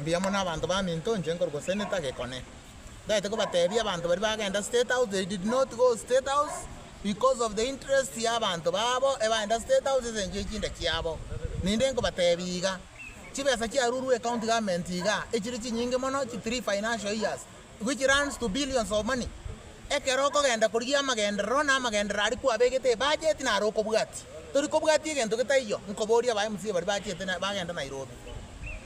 Mbuya mono abanto baminto inche nkorwa gose netagekone. Ndagete kobatebia abanto baria bagenda state house they did not go state house because of the interest ya abanto babo ebaenda state house ase engencho ye chinda chiabo. Ninde nkobatebia iga chibesa chiarurwe ecounty government iga echire chinyinge mono chi three financial years which runs to billions of money, ekero okogenda korigia amagenderero na amagenderero aria kwabegete ebudget naro okobwati tori kobwati egento getaiyo, nkoboria aba mca baria bachete na bagenda Nairobi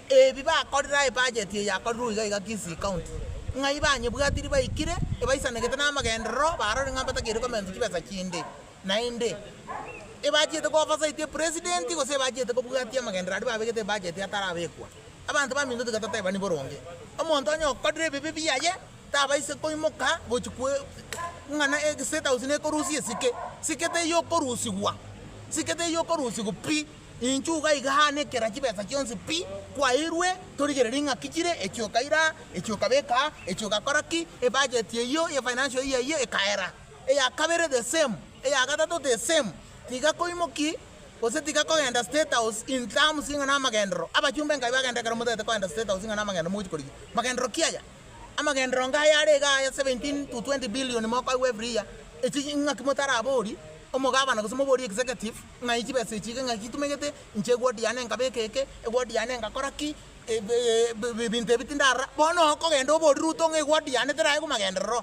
ebi bakorire aye budget eye yakorirwe iga iga Kisii county ng'ai banyebwatiri baikire ebaisanegete na amagenderero barore ng'a mbatakeire komensa chibesa chinde. Naende, ebachiete kooversity epresident gose ebachiete kobwatia amagenderero aria babegete ebudget atarabekwa, abanto baminto tiga toteebani boronge. Omonto onye okorire ebibe biaye tabaisa koimoka gochia kwe ng'a na estate house nekorusia esike. Sike teiyo okorusigwa, sike teiyo okorusigwa pi, inchuo iga iga aa nekera chibesa chionsi pi, kwairwe torigererie ng'aki chire, echi okaira aa, echi okabeka aa, echi ogakora ki, ebudget eyio ya financial year eyio ekaera. eya kabere the same, eya gatato the same, tiga koimoki gose tiga kogenda state house in terms ing'a namagendero, abachumba enkabi bagenda ekero motagete kogenda state house ing'a namagendero mogochi korigia magendero ki aya? amagendero inga aya are iga aya 17 to 20 billion mokoigwa every year echi ing'aki motarabori omogabana gose mobori executive ng'ai chibesa echi iga ing'aki itumegete inche eward yane enkabe eke eke eward yane engakora ki ebinto ebi tindarora bono okogenda obori ruto ng'a eward yane teraigwa magenderero.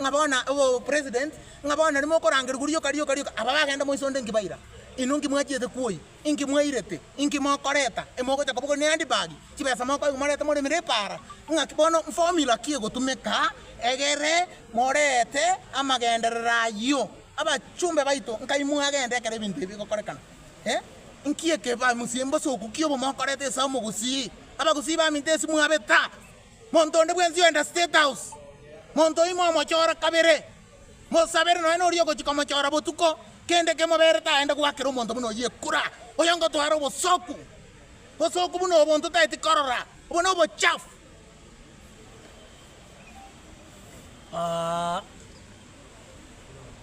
Ng'a bono obo president, ng'a bono nari mokorangerigwa rioka rioka rioka, aba bagenda moise onde inki baira? Inwe inki mwachiete kwoi? Inki mwairete? Inki mokoreta? Imogocha koboko ne handbag, chibesa mokoigwa morete moremire epara? Ng'aki bono formula ki egotumeka egere morete amagenderero ayio? Abachumbe baito, nkai mwagenda ekero ebinto ebi bigokorekana? Eh? Inki ekebaa mosie mbosoku ki obo mokorete ase omogusii? Abagusii baminto esimwabeta? Monto onde bwensi oenda State House, monto oimo omochore kabere, mosabere nonya noria ogochia komochora botuko, kende kemoberete aende goakera omonto buna oyio ekura, oyongotwara obosoku, bosoku buna obo ntotaeti korora, obo nobochafu.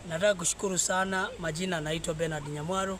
Nataka kushukuru sana majina naitwa Bernard Nyamwaro.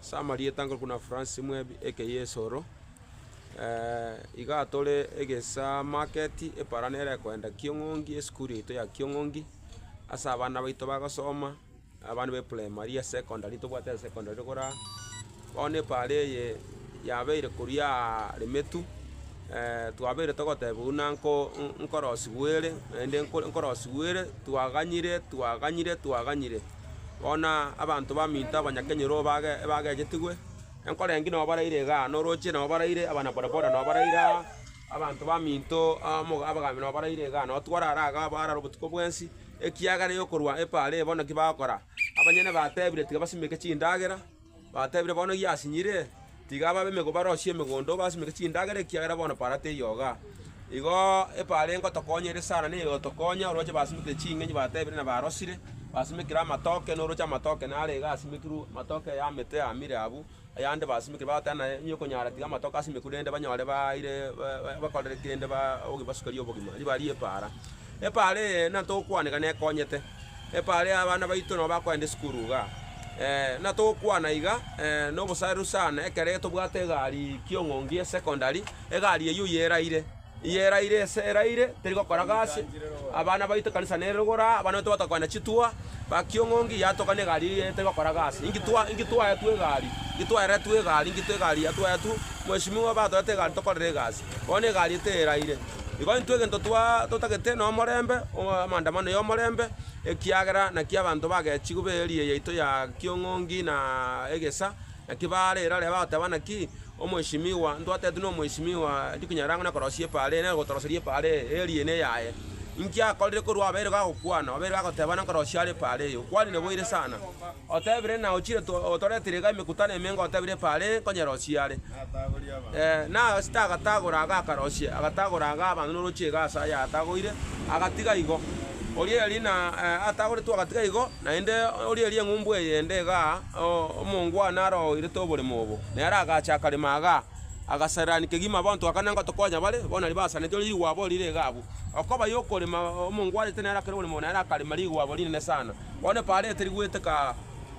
Ase amarieta nkorokwa na Francis Mwebi aka Yeso oro, iga tore egesaa market epara nere ekoenda Kiong'ongi esukuru yaito ya Kiong'ongi, ase abana baito bagosoma, abana ba eprimary ya secondary ntobwate ya secondary rogoro aa, bono epaara eye yabeire koriaaa Remetu, twabeire togoteba buna nko nkorosiwu ere naende nko nkorosiwu ere twaganyire twaganyire twaganyire. Bono abanto baminto abanyakenyoro ebagechetigwe, enkoro engiya nabo baraire igaa, na orooche nabo baraire, abanabodaboda nabo baraire aa, abanto baminto abagaambi nabo baraire igaa, nabo twarara igaa abwo arare obotuko bwensi, ekiagera yokorwa epaara eye bono naki bagokora? Abanyene batebire tiga basimeke chindagera. Batebire, Bono eyio asinyire, tiga ababe emego barosie emegondo, basimeke chindagera, ekiagera bono epaara teiyo iga. Igo epaara engotokonya ere sana na egotokonya orwache basimekire ching'enyi, batebire, na barosire, basimekire amatoke, na orwache amatoke naro iga asimekirwe, amatoke ya emete amire abwo, ayande basimekire, bagoteeba naye, onye okonyara tiga amatoke asimekwe rende banyore baire ba- bakorere kende ba- obogi- basukerie obogima, ribarie epaara. Epaara eye, nantogokwaneka nekonyete. Epaari abana baito nao bakoenda esukuru iga, natogokwana iga nobosareru sana ekero tobwate egari kiong'ongi ya secondary, egari eyio eye eraire, eye eraire ese eraire teri gokora gasi, abana baito ekanisa nere igoro aa, abana baito bagotoka koenda chitua, ba kiong'ongi yatoka na egari eye etari gokora gasi, inki twa inki twaetu egari, inki twaeretu egari, inki twa egari ya twaetu, mweshimiwa batorete egari tokorere egasi. Bono egari teraire, igo intwe egento twaa totagete nomorembe, amaandamano yomorembe, ekiagera naki abanto bagechigwe b'eeria yaito ya Kiong'ongi na Egesa, naki baare erore bagoteba naki omweshimiwa ntwatetwe nomweshimiwa tikunyara ang'e nakorosia epaara eye, nagotoroseria epaara eye, eeria eye neyaye. Inki akorire korwa abeire gagokwana, obeire gagoteba nankorosia are epaara eye, okwanire boire sana, otebire na ochire otoretire iga emekutano emenga otebire epaara eye nkonyerosie are. Naasete agatagora aga akaroisia, agatagora aga abanto norochie iga ase aya atagoire, agatiga igo. Oria eria na atagoretwe agatiga igo, naende oria eria eng'umbu eye ende iga omongwana arogoirete oboremo obo, nere agacha akarema iga, agasarirani kegima abanto aka nanga tokonya bare, bono naria basaneti, oria rigwabo rire iga abwo. Okoba yokorema omongwanete nere akore oboremo obo nere akarema rigwabo rinene sana, bono epareti rigwete kaa.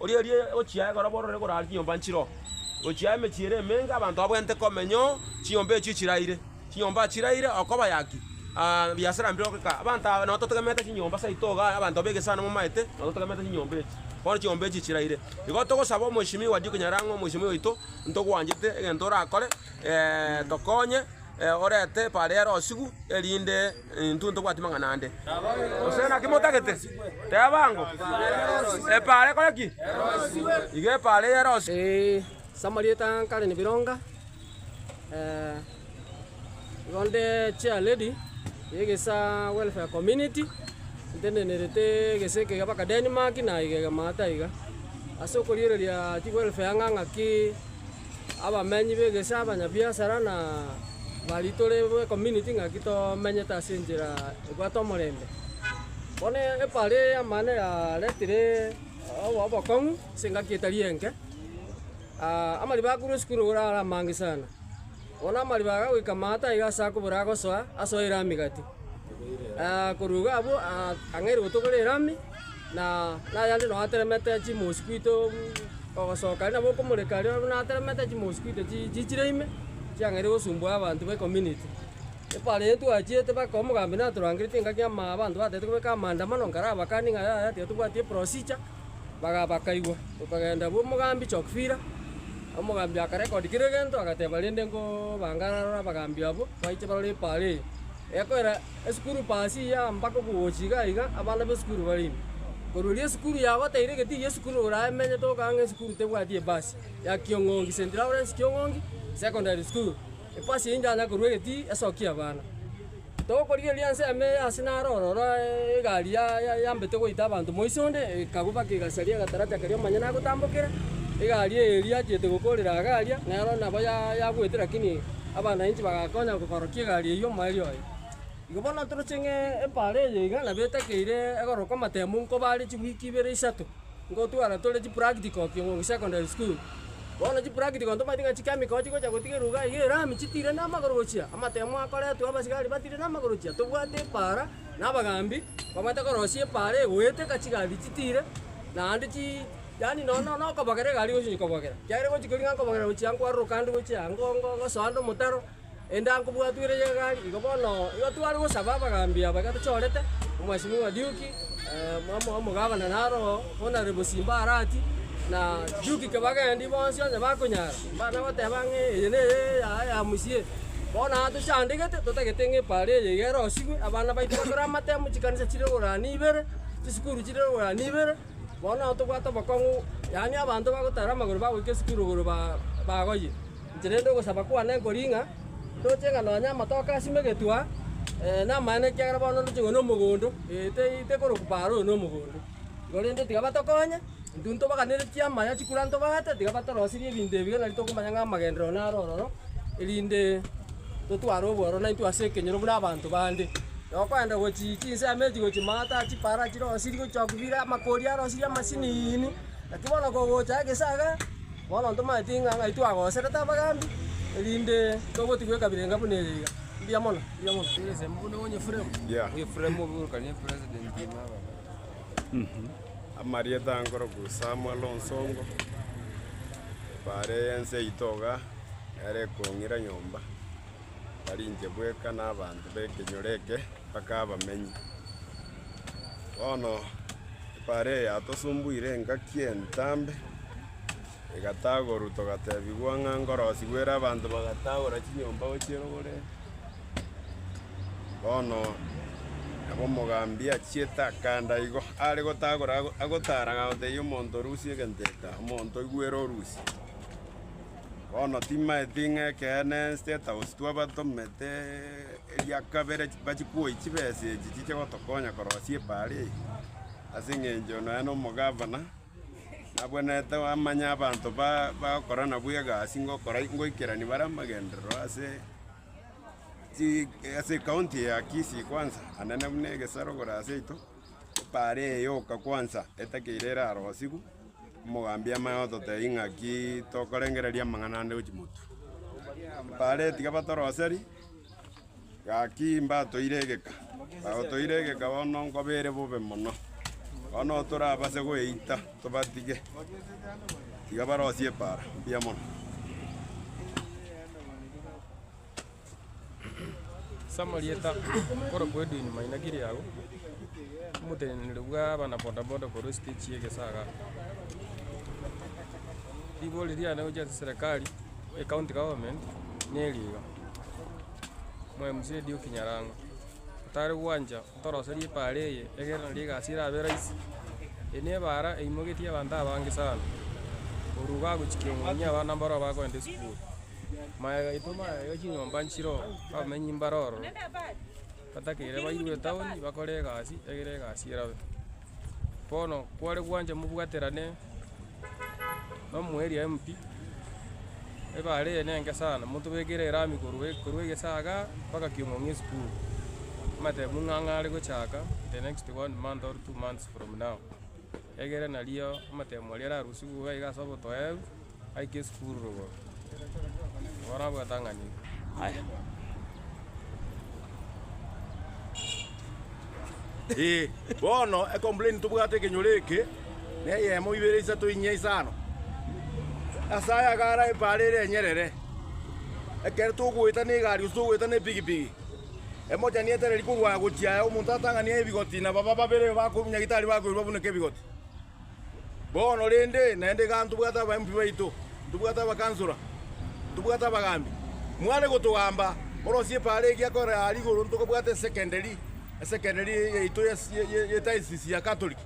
Oria oria ogochia egoro bororo egoraara chinyomba nchiroo, gochia emechie ere emenge abanto babwenerete komenya oo chinyomba echio chiraire. Chinyomba chiraire okoba yaki? Aa biasara mbire ogokora. Abanto aba nabo totegemeete chinyomba saito iga abanto begesesa nabo momaete nabo totegemeete chinyomba echi. Bono chinyomba echi chiraire. Igo togosaba omweshimiwa Dick Nyairang'a omweshimiwa oito ntogwanchete egento orakore tokonye orete pariere osigu erinde Intwe ntobwati mang'ana ande. Gose naki motagete? Teba ango. Epaara ekore ki? Iga epaara eye erosiwe. Ee, samarieta nkare nebironga, eh, igo nde chair lady y'egesaa welfare community, ntendenerete egesa eke mpaka Denmark na iga iga maate iga. Ase okoriereria chiwelfare ang'ang'a ki. Abamenyi b'egesaku, abanyabiasara, na baria tore bw'ecommunity ng'aki tomenyete ase enchera ebwate omorembe. Bono ebare eye amang'ana yaretire obokong'u ase engaki etari enke. Amariba akorwa esukuru nigo are amange sana. Bono amariba aga goika amato aiga ase akobora agosoa, asoire amigati. Korwa igo abwo ang'aire gotokora erami, na ayande nao ateremete chimoosi kwito ogosoka aria nabo okomoreka aria buna ateremete chimoosi kwito chi chichire ime, chiang'aire gosumbua abanto ba ecommunity. Ekero aye twachiete mpaka omogambi natorangereti engaki ama abanto batagete kobeka amaandamano, nkarabakanie ng'a yaya tiga tobwati eprosija. Baga bakaigwa. Tokagenda abwo omogambi Chokfira, omogambi akarecord kera egento, agateba rende nkobangare aroro abagambi abwo, baiche barore epaara eye. Egokoera esukuru paa ase eyi aa mpaka okogocha iga iga, abana b'esukuru bare ime. Korwa erio esukuru yagoteire gete eywo esukuru oraemenyete okong'a ng'a esukuru tebwati ebasi, ya Kiong'ongi, St. Lawrence Kiong'ongi Secondary School. Ebasi eye inchanya korwa egetii esokie abana. Togokorigereria ensemo eye ase naro ororo egari yambete goita abanto moise onde, ekagubaka egasaria agatarati karia omonyene agotambokera, egari eye eria achiete gokorera iga aria, nero nabo yagwete lakini abanainchi bagakonya koborokia egari eyio omoerio oye. Igo bono toroche ng'a epaara eye iga nabo etakeire egorokwa amatemo nkobaare chiweek ibere isato. Ngotwana tore chipractical king'wangu secondary school. Bono chipractical ntomaeti ng'a chichemical chigocha gotigererwa iga iga erami chitire namagoro gochia amatemo akoretwe abasigari batire namagoro gochia tobwate epara na abagambi babwate korosia epara egoeta ekachigari chitire naende chii yaani nonya nonya nokobogera egari gochi gochi kobogera. Kiagera gochi kori ng'a nkobogera gochia nkwaroroka ande gochia ango ngo gosoa ande omotaro. Endanko bwatwire y'egari igo bono igo tware gosaba abagaambi aba ekero tochorete, Omwesimwa Duke, omo omogavana naroo, Hon. Simbarati, na Duke Kibagendi bonsi onye bakonyara, mbare goteba ng'a eye neye yaya ya mosie. Bono aa tochandegete, totagete ng'a epaaro eye iga erosigwe, abana baito bakoramate amo chikanisa chire igoro aa na ibere, chisukuru chire igoro aa na ibere. Bono ao tobwate obokong'u, yaani abanto bagotara amagoro bagoika esukuru igoro bagoyie inche, rende ogosaba kwane nkoring'a, ndoche ng'a nonya amatoke asime egetua. Namaene ekiagera bono ndoche ng'a nomogondo, ee tekorokwa paaro oyo nomogondo igo rende tiga batokonye, intwe ntobaganere chiama ya chikura ntobaate tiga batorosirie ebinto ebi gaki nari tokomanya ng'a amagenderero naro ororo, erinde totware obwororo naintwe ase ekenyoro buna abanto bande. Na okoenda gochia chinse ime chigo chimaata, chipara chire osiri gochia kobira, amakori are osiri amasiniini. Naki bono kogocha egesaga, bono ntomanyeti ng'a ng'ai twagoserete abagambi, erinde togotigwa ekabira enga buna eye iga. Mbuya mono, mbuya mono. Amarieta nkorokwa Samuel Onsongo, bare ense yaito iga, nere ekong'ira nyomba. barinche bweka nabanto b'ekenyoro eke, mpaka abamenyi. Bono epaara eye yatosumbuire engaki entambe, egatagorwa togatebigwa ng'a ngorosigwa ere abanto bagatagora chinyomba gochia rogoreria. Bono nabo omogambi achiete akanda igo, are gotagora ago- agotara agotebia omonto rusia egento eke, omonto oigwere orusie. Bono timaeti ng'a ekeene State House twabatomete eria kabere bachikwoyie chibesa echi chiche gotokonya korosia epaara eye, ase eng'encho nonye na omogavana nabwenerete amanye abanto ba bagokora nabwo egasi ngokora ngoikerani bare amagenderero ase chi ase ekaunti eye ya Kisii kwanza ande na buna egesarogoro ase yaito, epaara eye yoka kwanza etakeire erarosigwe. Omogambi amaye ototebia ng'aki tokorengereria amang'ana ande gochia motu. Bare tiga batoroseri, gaki mbatoire egeka, bagotoire egeka bono nkoba ere bobe mono. Bono torabase goeita tobatige, tiga barosie epaara mbuya mono. Ase amarieta akorokwa Edwin Maina Kiriago, omoteneneri bw'abana bodaboda korwa esitegi ya Egesaga. Rigo riria riane gochia ase serikari ya county government neri iga, Mzee Dioki Nyarango, otare gwancha. Toroserie epaara eye, egerana rigasi erabe raisi. Eye nebaara eimogetie abanto abange sana. Korwa igo agochikia omong'ina abana mbaroo bagokenda esukuru. Maya gaito maya iga chinyomba nchiroo, abamenyi mbare ororo, batakeire bairwe etaoni bakore egasi egere egasi erabe. Bono kware gwancha mobwaterane nomoerio empty, ebare eye nenge sana, motobekere erami korwa korwa egesaga mpaka kiong'ong'o esukuru, amatemo ng'ang'a are gochaka in the next one month or two months from now, egere nario amatemo aria ararusigwe iga ase obotoebu. Aike esukuru rogoro. Morabwate ang'anire. Aya. Ee, bono ecomplain tobwate ekenyoro eke na eyemo, ibere, isato, inye, isano. Ase aya iga ara ebaare ere enyerere. Ekero togoeta negari gose togoeta nepigipigi, emochani etereri korwa aya gochia aya, omonto atang'ani aye ebigoti na baba babere ba nyagitari bakoirwa babuneke ebigoti. Bono rende, naende igaa ntobwate abaembi baito, ntobwate abakansora, ntobwate abagaambi. Mware gotogamba, borosie epaara eria kore aa rigoro ntokobwata esekenderi, esekenderi yaito ye diocese ya Catholic,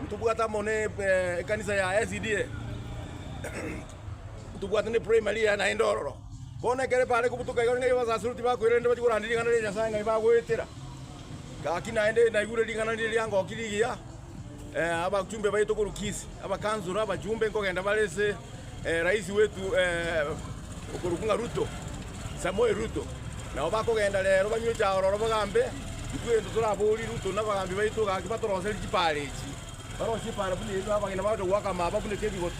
ntobwate amo ne ekanisa ya SDA, ntobwate ne primary yaye naende ororo. Bono ekero epaara ekobutoka iga ng'ai abasaseroti bakoira rende bachie koranda ring'ana ria Nyasae ng'ai bagoetera. Gaki naende naigure ring'ana riria riangokirie rigiya. Abachumbe baye tokorukisi abakansoro abachumbe nkogenda bare ase rais wetu okorokwa ng'a Ruto, Samoei Ruto. Nabo bakogenda rero banyure chaororo bagambe, intwe egento toraborie Ruto na abagambi baito gaki batoroserie chipaara echi, barosie epaara buna eria abageni bagocha goaka amaaba buna ekebigoto.